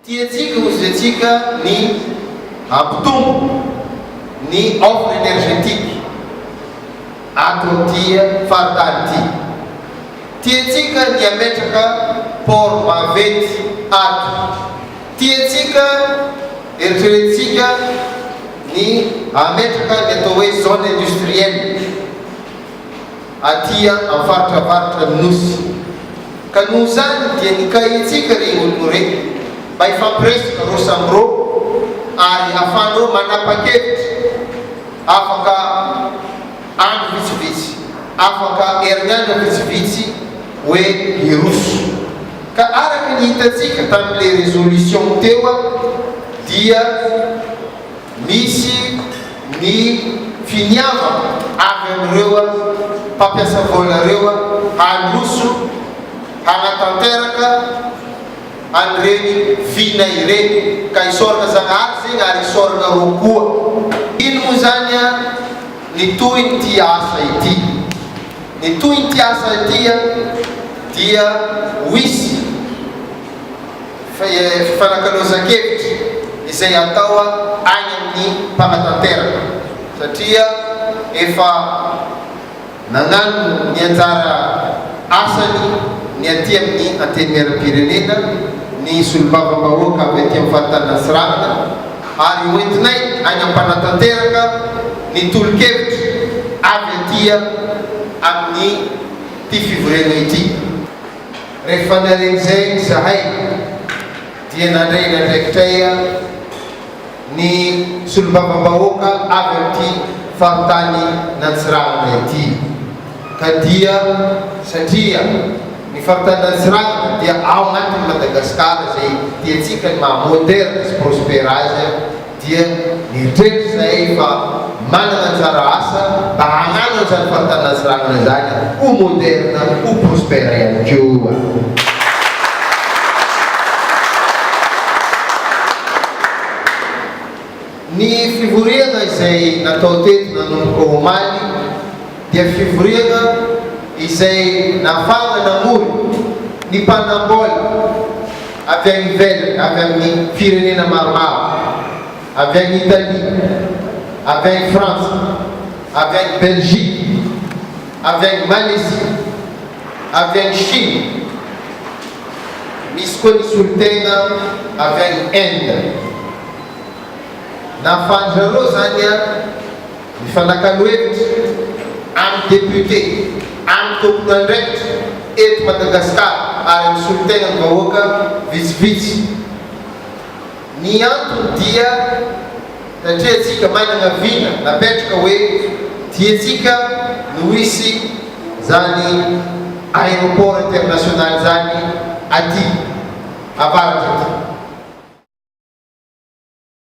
Tiantsika ho zaitsiaka ny hampitombo ny offre energetique ato amin'ity faritany ity. Tiantsika ny hametraka port vaventy ato. Tiantsika, eritreretintsika ny hametraka ny atao hoe zone industrielle. aty am faritra avaratran ny nosy ka noho izany dia nikahentsika rey olon rey mba hifampiresaka reo samy reo ary afahan reo manapakevitra afaka andro vitsivitsy afaka heriniandro vitsivitsy oe hiroso ka araka ny hitatsika tam le resolution teo dia Misy ny finiavana avy amin'ireo mpampiasa vola ireo handroso hanatanteraka an'ireny vina ireny ka hisaorana Zagnahary zegny ary hisaorana rô koa. Ino moa zany ny tohin'ity asa ity? Ny tohin'ity asa ity dia wisy. fifanakalozan-kevitra izay atao any amin'ny mpanatanteraka satria efa nagnano ny anjara asany ny aty amin'ny Antenimieram-pirenena ny Solombavambahoaka avy aty amin'ny Faritany Antsiranana ary hoentinay any am-panatanteraka ny tolo-kevitra avy aty amin'ny ity fivoriana ity. Rehefa naren'izay izahay dia nandray ny andraikitray ny solombavambahoaka avy amin'ity faritany nantsirahana ity ka dia satria ny faritany nantsirahana dia ao anatin'i Madagasikara izay tiantsika ny maha moderne sy prospère azy dia nieritreritra izahay fa manana anjara asa mba hanano an'izany faritany Antsiranana izany ho moderne, ho prospère ihany koa. Ny fivoriana izay natao teto nanomboka omaly dia fivoriana izay nahafahana namory ny mpanam-baola, avy any ivelany, avy amin'ny firenena maromaro, avy any Italia, avy any Frantsa, avy any Belgique, avy any Malaisie, avy any Chine, misy koa ny solontena avy any Inde. Nahafahan-dry zareo izany an! Mifanakalo hevitra amin'ny député amin'ny tompon'andraikitra eto Madagascar ary amin'ny solontenan'ny vahoaka vitsivitsy. Ny antony dia satria antsika manana vina napetraka hoe diantsika no hisy izany aéroport international izany aty avaratra aty.